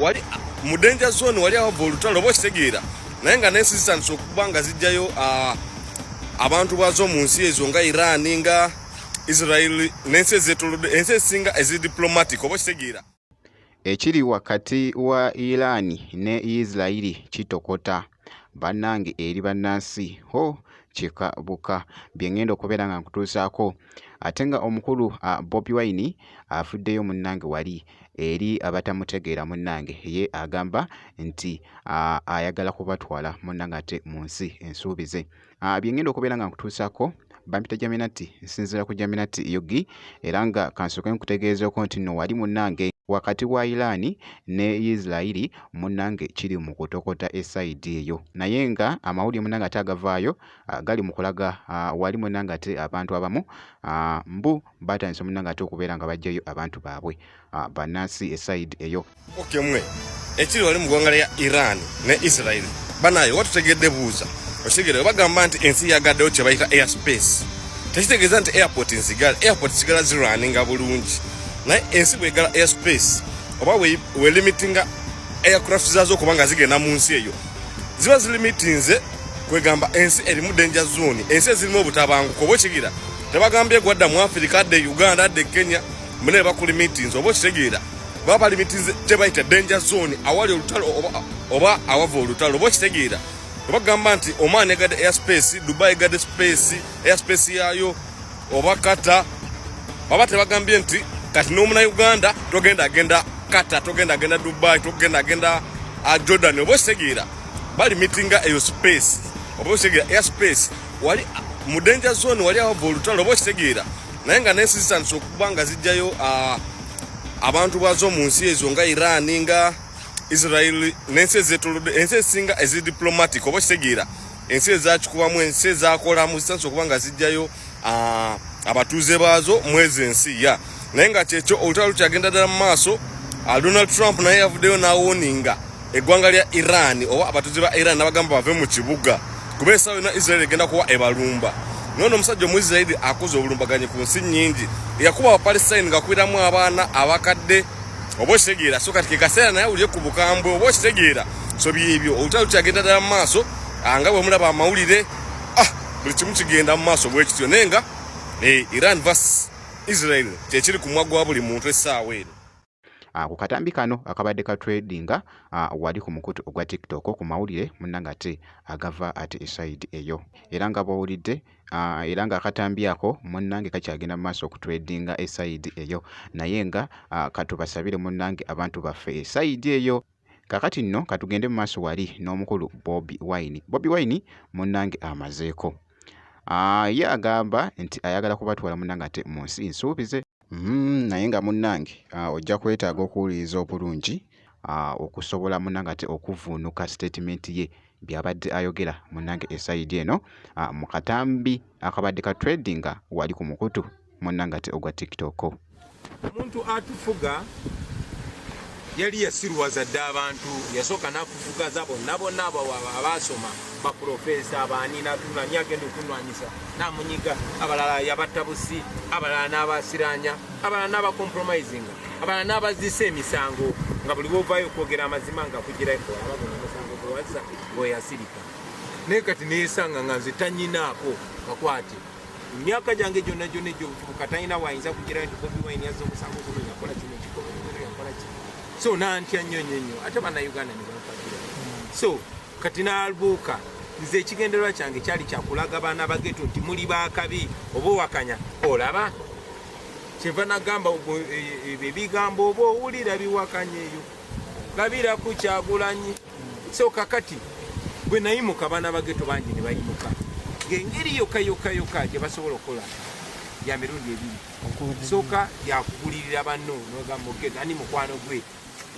wali mu danger zone wali awava olutalo oba okitegeera naye nga nensi zitandise okuba nga zijjayo abantu bwazo mu nsi ezo nga iran nga israel nensi ezetolode ensi esinga ezi diplomatic oba okitegeera Ekiri wakati wa Iran ne Yisirayiri kitokota bannange eri bannansi ho kika buka bye ngenda okubeera nga nkutuusaako ate nga omukulu Bobi Wine afuddeyo munnange wali eri abatamutegeera munnange ye agamba nti ayagala kubatwala munnange ate mu nsi ensuubize. Ah, byengenda okubeera nga nkutuusako bampita jaminati nsinzira ku jaminati yogi era nga kansooke nkutegeezeeko nti no wali munnange wakati wa iraani ne isirairi munnange kiri mu kutokota esaidi eyo naye nga amawulire munnange ate agavaayo ah, gali mu kulaga ah, wali munnange ate abantu abamu mbu batandise omunanga ate okubeera nga bajjayo abantu baabwe ah, banansi esaidi eyo okay, mwe ekiri wali mu gwanga lya iran ne israel banaye oba tutegedde buuza okitegere obagamba nti ensi yagaddewo kyebayita air space tekitegeeza nti airport nzigala airport sigala zirwaninga bulungi naye ensi bwegala air space oba welimitinga aircraft zazo okuba nga zigenda mu nsi eyo ziba zilimitinze kwegamba ensi erimu danger zone ensi ezirimu obutabanguko oba okigira tebagambye gwadda mu afirika adde e uganda adde e kenya mune bakuli meetings oba okitegeera baba bali meetings tebayita danger zone awali olutalo oba awava olutalo oba okitegeera oba gamba nti oman egadde airspace dubai egadde space airspace yayo oba kata baba tebagambye nti kati nomuna uganda togenda agenda kata togenda agenda dubai togenda agenda ah, jordan oba okitegeera bali meetinga eyo space oba okitegeera airspace wali mu danger zone wali awava olutalo oba okitegeera naye nga nensi zitandise okuba nga zijjayo abantu bwazo mu nsi ezo nga iran nga israel nensi ezetolodde ensi ezisinga ezi diplomatic oba okitegeera ensi ezakikubamu ensi ezakolamu zitandise okuba nga zijjayo abatuuze baazo mwezi ensi ya yeah. naye nga kyekyo olutalo lukyagenda ddala mu maaso ah, donald trump naye yavuddeyo n'awoninga eggwanga lya iran oba abatuzi ba iran nabagamba bave mu kibuga kuba esawa yona israeli egenda kuwa ebalumba nono omusajja omuisiraeli akoze obulumbaganyi ku nsi nyingi yakuba abapalestine ngakubiramu abaana abakadde oba okitegeera so kati kekaseera naye awulire ku bukambwe oba okitegeera so byebyo olutalo kyagenda ddala mu maaso ah, nga bwemulaba amawulire ah, buli kimu kigenda mu maaso bwekityo naye nga eh, iran vas Israel kyekiri ku mwa gwa buli muntu essaawa eno. Ah, ku katambi kano akabadde ka tradinga ah, wali ku mukutu ogwa tiktok ku mawulire munanga ate agava ate esaidi eyo era nga bwowulidde ah, era nga akatambi ako munange kakyagenda mumaaso okutradinga esaidi eyo naye nga katubasabire munange abantu baffe esaidi eyo Kakati nno katugende mu maaso wali n'omukulu Bobi Wine. Bobi Wine munnange amazeeko. Ah, ye agamba nti ayagala kubatwala munnange ate mu nsi nsuubize. Mm, naye nga munnange ah, ojja kwetaaga okuwuliriza obulungi ah, okusobola munnange ate okuvuunuka sitetimenti ye byabadde ayogera munnange esayidi eno ah, mu katambi akabadde ka tradinga wali ku mukutu munnange ate ogwa tiktok omuntu atufuga yali yasiruwaza dde abantu yasooka nakufugaza bonna bonna abaasoma baprofesa baani natunani agenda okunwanyisa namunyiga abalala yabatta busi abalala n'abasiranya abalala n'abakompromisinga abalala n'abazisa emisango nga buli wovaayo okwogera amazima nga kugiraomusangowaza weyasirika naye kati neyesanga nga nze tanyinaako kakwate emyaka gyange gyonna gyonna egyobuvubuka talina wayinza kugira nti bobi wine yazza omusango guno yakola kino kikomuno yakola ki so nantya nnyo nnyo nnyo ate bannayuganda ne banfagira so kati nalbuuka nze ekigendererwa kyange kyali kyakulaga baana bageto nti muli bakabi oba owakanya olaba kyeva nagamba ebyo ebigambo oba owulira biwakanya eyo labira ku kyagulanyi so kakati bwe nayimuka abaana bageto bangi ne bayimuka ng'engeri yokka yokka yokka gye basobola okukola ya mirundi ebiri sooka yakugulirira banno nogamba ogenda ani mukwano gwe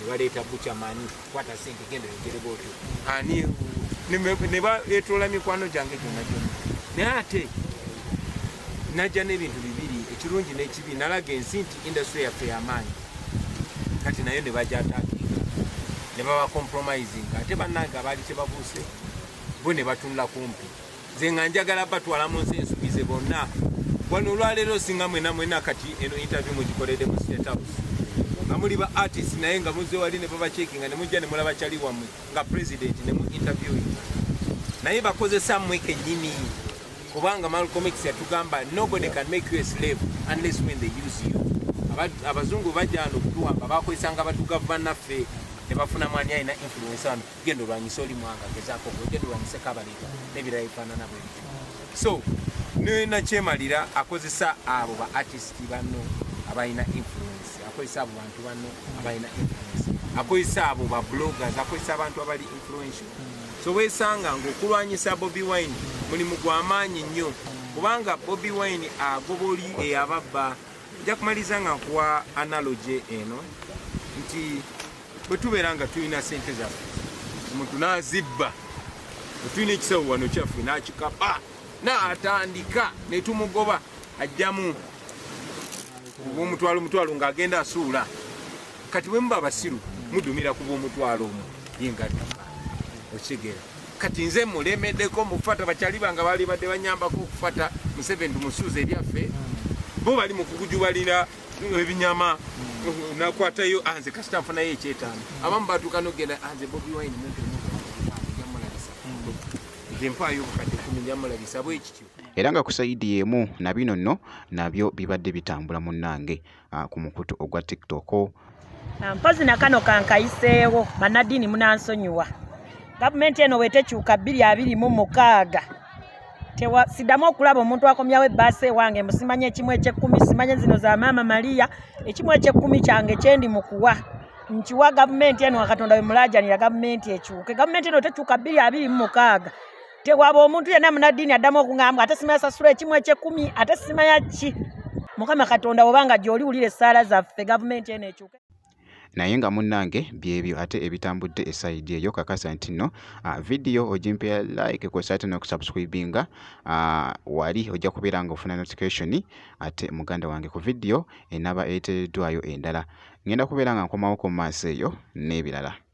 nebaleeta bucha mani kwata sente genda yogere bwotyo ani nebayetoola mikwano gyange gyona gyona naye ate najja n'ebintu bibiri ekirungi n'ekibi nalaga ensi nti industry yaffe yamaanyi kati nayo nebajatakinga nebabakompromising ate bannange abaali kyebabuuse bo nebatunula kumpi nze nga njagala batwala mu nsi ensubize bonna wano olwaleero singa mwena mwena kati eno interview mugikolede mu state house nga muli ba artist naye nga muze wali ne babacekinga ne mujja ne mulaba kyali wamwe nga president ne mu interview naye bakozesa mmwe kennyini kubanga Malcolm X yatugamba nobody can make you a slave unless when they use you abazungu bajja no kutuwamba bakozesanga batuga bannaffe ne bafuna mwani alina influence ano genda olwanyise oli mwanga gezaako gwe genda olwanyise kabaliga n'ebirala ebifaanana bwe bityo so nenakyemalira akozesa abo ba artist banno abalina influence akozesa abo bantu banno abalina influence akozesa abo ba bloggers akozesa abantu abali influential so wesanga ngaokulwanyisa bobi wine mulimu gwamaanyi nnyo kubanga bobi wine agoba oli eyababba nja kumaliza nga nkuwa analogy eno nti bwe tubeera nga tulina sente zaffe omuntu n'azibba otulina ekisawo wano kyaffe n'akikapa n'atandika ne tumugoba ajjamu obwomutwalo omutwalo ng'agenda asuula kati bwe muba abasiru mudumira ku bwomutwalo omu yengadduka okitegeera kati nze mulemedeko mufata bakyali bange baali badde banyambako okufata museveni tumusuuza ebyaffe bo bali mu kugujubalira ebinyama nakwatayo anze kasita nfunayo ekyetaano abamu batuuka nogenda anze bobi wine mumpe jamulabisa nze mpaayo obukadde kumi jamulabisa bwekityo era nga ku sayidi y'emu na bino nno nabyo bibadde bitambula munnange ah, ku mukutu ogwa tiktok Ah, mpozi na kano kankayiseewo banaddiini munansonyiwa gavumenti eno wetekyuka bbiri abiri mu mukaaga sidamu okulaba omuntu akomyawo ebbaasa ewange mbusimanya ekimu ekyekkumi simanya zino za maama maliya ekimu ekyekkumi kyange kyendi mukuwa nkiwa gavumenti eno akatonda wemulajanira gavumenti ekyuke gavumenti eno tekyuka bbiri abiri mu mukaaga tewaba omuntu yenna munaddiini addamu okungamba ate sima yasasula ekimu ekyekumi ate sima yakki mukama katonda obanga gyoli wulira essaala zaffe gavumenti eno ekyuke naye nga munnange byebyo ate ebitambudde esayidi eyo kakasa nti nno ah, vidiyo ogimpera like kwesa ate nokusubscribinga ah, wali ojja kubeera nga ofuna notification ate muganda wange ku vidiyo enaba eteereddwayo endala ngenda kubeera nga nkomawo ku maaso eyo n'ebirala